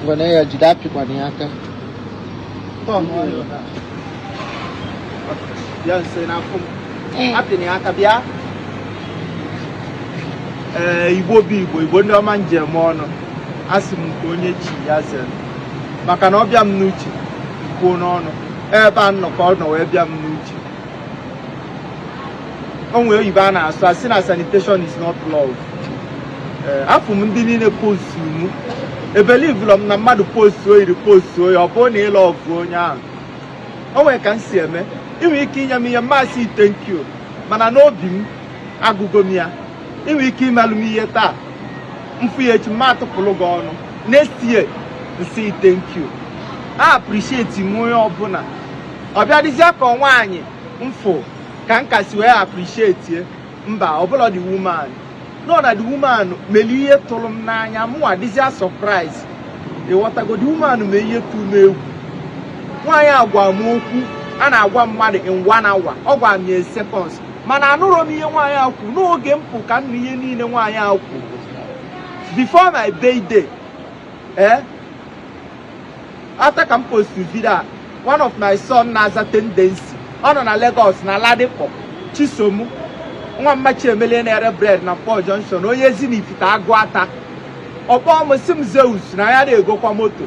Ngwana ya jide apịkwana ya aka. Bịa nso n'afọ m. Apịna ya aka bịa. Ee, Igbo bụ Igbo, Igbo ndị ọma njem ọnụ. Asị m nke onye chi ya zere. Maka na ọ bịa m n'uche, kwuo n'ọnụ. Ebe m nọ ka ọ nọ wee bịa m n'uche. o nwere oyibo a na-asụ a sị na salutation is not love eh, afụ m ndị niile postu m ebelivụlọ m na mmadụ postu o yiri postu oyi ọ bụrụ na ị love onye ahụ o nwere ka m si eme i nwe ike inye m ihe m asị ị thank you mana n'obi m agụgo m ya i nwe ike imelụ m ihe taa m fụ ya echi m ma atụpụrụ gị ọnụ next year m sị ị thank you a appreciate m onye ọbụla ọ bịadịzie ka nwaanyị m fụ ka m ga-esi wee appreciate mba ọbụla the woman nọ na the woman mere ihe tụrụ m n'anya mụnwa dịzia surprise ị ghọtago the woman mee ihe tụrụ m egwu nwaanyị a gwa m okwu a na-agwa mmadụ in one hour ọ gwa m ya seconds mana anụrụ m ihe nwaanyị a kwuru n'oge m pụ ka m ihe niile nwaanyị a kwuru before my birthday eh after ka m post video a one of my son na-aza Tendency ọ nọ na Lagos na Ladipo Chisom nwa mma Chiemelie na-ere bread na Nkpor Junction onye Ezinifite Aguata ọ kpọ m sị m Zeus na ya na-egokwa moto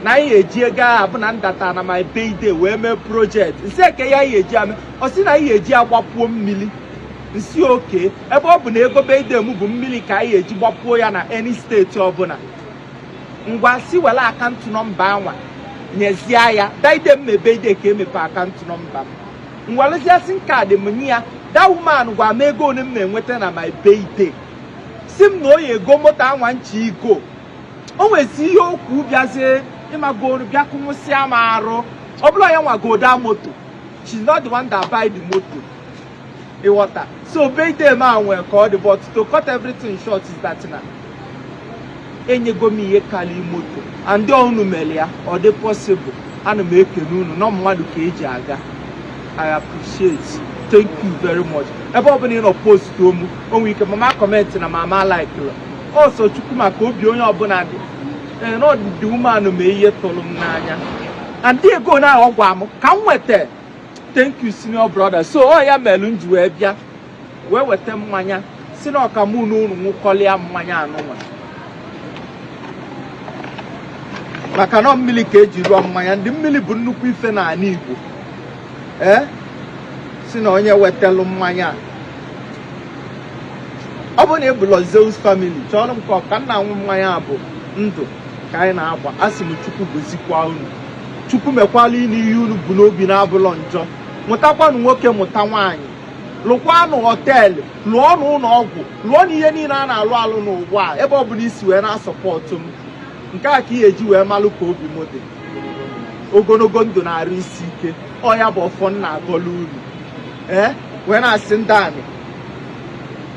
na anyị eji ego ahụ bụ na ndata na my birthday wee mee project m sị kee ihe anyị eji eme ọ sị na anyị eji agbapuo mmiri m sị okay ebe ọ bụ na ego birthday m bụ mmiri ka anyị eji gbapuo ya na any state ọbụla ngwa si were account number anwa nyezie ya that day my birthday ka e mepe account number m m werezie sim card m nye ya that woman gwa m ego ole m na-enweta na my birthday sị m na ọ ya-ego moto anwa m chọ igo o nwezi ihe o kwu bịazie ị magoro bịa kụnwụsịa m arụ ọ bụrọ ya nwa gota moto she's not the one that buy the moto ị ghọta so birthday m nwee ka ọ dị but to cut everything short is that na enyego m ihe karịa moto and unu mere ya ọ dị possible ana m ekene unu na mmadụ ka e ji aga I appreciate thank you very much ebe ọ bụla ị nọ postuo m o nwe ike m ama comment na m ama likelụ ọ sọ Chukwu ma ka obi onye ọbụla dị ee na the woman mee ihe tụrụ m n'anya and the ego na ọ gwa m ka m nweta thank you senior brother so ọ ya melu m ji wee bịa wee weta mmanya sị na ọ ka mụ na unu ṅụkọlịa mmanya anụnwa maka na mmili ka e ji rụọ mmanya ndị mmili bụ nnukwu ife n'anị Igbo ee sị na onye wetalụ mmanya ọ bụrụ na ị bụ Lord Zeus family chọrọ nke ị ka na-aṅụ mmanya bụ ndụ ka anyị na-agba a sị m Chukwu gozikwa unu Chukwu mekwalụ unu ihe unu bu n'obi na-abụlọ njọ mụtakwanụ nwoke mụta nwaanyị lụkwanụ hotel lụọnụ ụlọ ọgwụ lụọnụ ihe niile a na-alụ alụ n'ụwa a ebe ọ bụla i si wee na-asupport m nke a ka ị ya-eji wee malụ ka obi m dị ogologo ndụ na arụ isi ike ọ ya bụ ọfọ m na-agọlụ unu ee wee na-asị ndị anị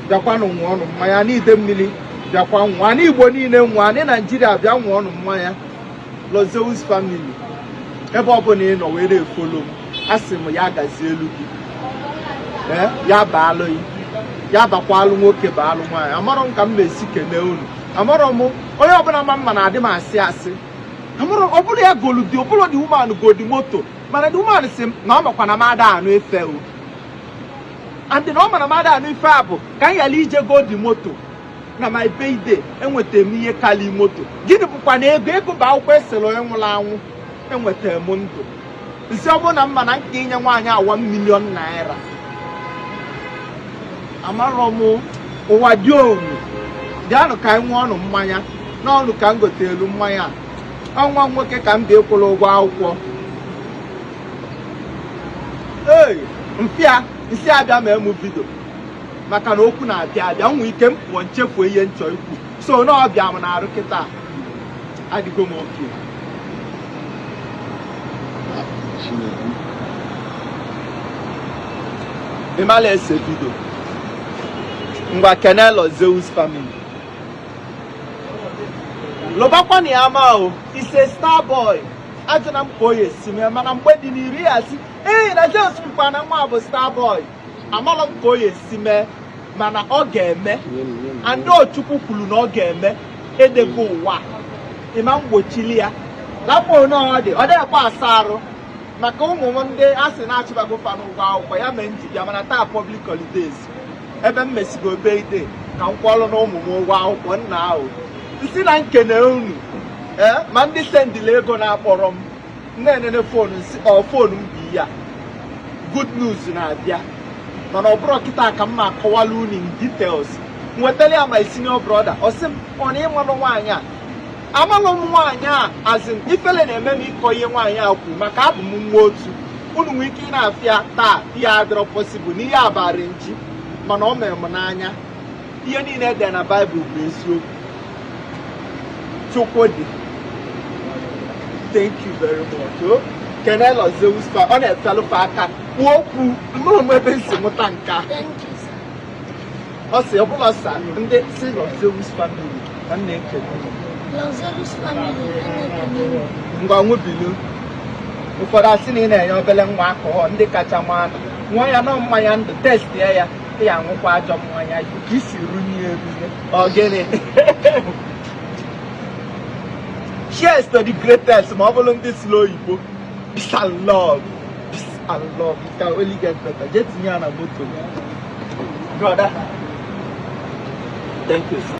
bịakwanụ ṅụọ ọnụ mmanya anị Idemmiri bịakwa ṅụọ anị Igbo niile ṅụọ anị Naijiria bịa ṅụọ ọnụ mmanya Lord Zeus family ebe ọbụla ị nọ wee na-efollow m a sị m ya gazielu gị ee ya baalụ gị ya bakwalụ nwoke baalụ nwaanyị amarọ m ka m na-esi kene unu amarọ m onye ọbụla ma m ma na adị m asị asị amarọ ọ bụrụ ya golu dị ọ bụrụ the woman godi moto mana the woman sị m na ọ makwa na m ada anụ ife o and na ọ ma na m ada anụ ife a bụ ka m yala ije godi moto na my birthday enwetara m ihe kalị moto gịnị bụkwanụ ego ego bụ akwụkwọ e sere onye nwụrụ anwụ enwetara m ndụ m sị ọ bụrụ na m ma na m ka enye nwaanyị a one million naira amarọ m ụwa dị omu bịanụ ka anyị ṅụọ ọnụ mmanya na ọ unu ka m gotelu mmanya ọ nwa nwoke ka m ga-akwụrụ ụgwọ akwụkwọ ee m bịa m sị abịa m eme vidio maka na okwu na-abịa abịa nwee ike m pụọ m chefuo ihe m chọ ikwu so na ebe a m nọrọ kịta adịgo m okay ị mala ese vidio ngwa kene Lord Zeus family lụbakwana ya ama o is a star boy ajụna m ka ọ ya-esi mee mana mgbe dị n'iru ị ya-asị ee na Zeus kwukwa na nwa a bụ star boy amarọ m ka ọ ya-esi mee mana ọ ga-eme and ọ Chukwu kwuru na ọ ga-eme edego ụwa ịma mgbochili ya lapụ onye ọ dị ọ dịghịkwa asa arụ maka ụmụ m ndị a sị na achụbago fa n'ụgwọ akwụkwọ ya mee m ji bịa mana taa public holidays ebe m mesigo birthday ka m kwụọlụnụ ụmụ m ụgwọ akwụkwọ now m sị na m kene unu ee ma ndị sendịlị ego na-akpọrọ m na-enene fon m bụ ihe a good news na-abịa mana ọ bụrọ kịta ka m ma akọwala unu in details m wetara ya my senior brother ọ sị m ọ na ị malụ nwaanyị a amalụ m nwaanyị a as in ifele na-eme m ịkọ ihe nwaanyị a kwuru maka abụ m nwa otu unu nwee ike ịna-afụ ya taa ihe a adịrọ possible na ihe a bụ arrangee mana ọ mere m n'anya ihe niile e dere na baịbụl bụ eziokwu chukwu dị thank you very much o kene Lord Zeus fa ọ na-efelụfe aka kwuo okwu mma onwe ebe m si mụta nke a ọ sị ọ bụla sa ndị si Lord Zeus family ka m na-ekele unu. Lord Zeus family enyekwuru ngwa ṅụbilu ụfọdụ a sị na ị na-enye obele nwa akụhọ ndị kacha ma nwa ya nọ mmanya ndụ test ya ya ya aṅụkwa ajọ mmanya ka isi runye erunye ọ gịnị cheers to the greatest ma ọ bụrụ ndị sụrụ oyibo peace and love peace and love it can only get better jee tinye ya na moto brother thank you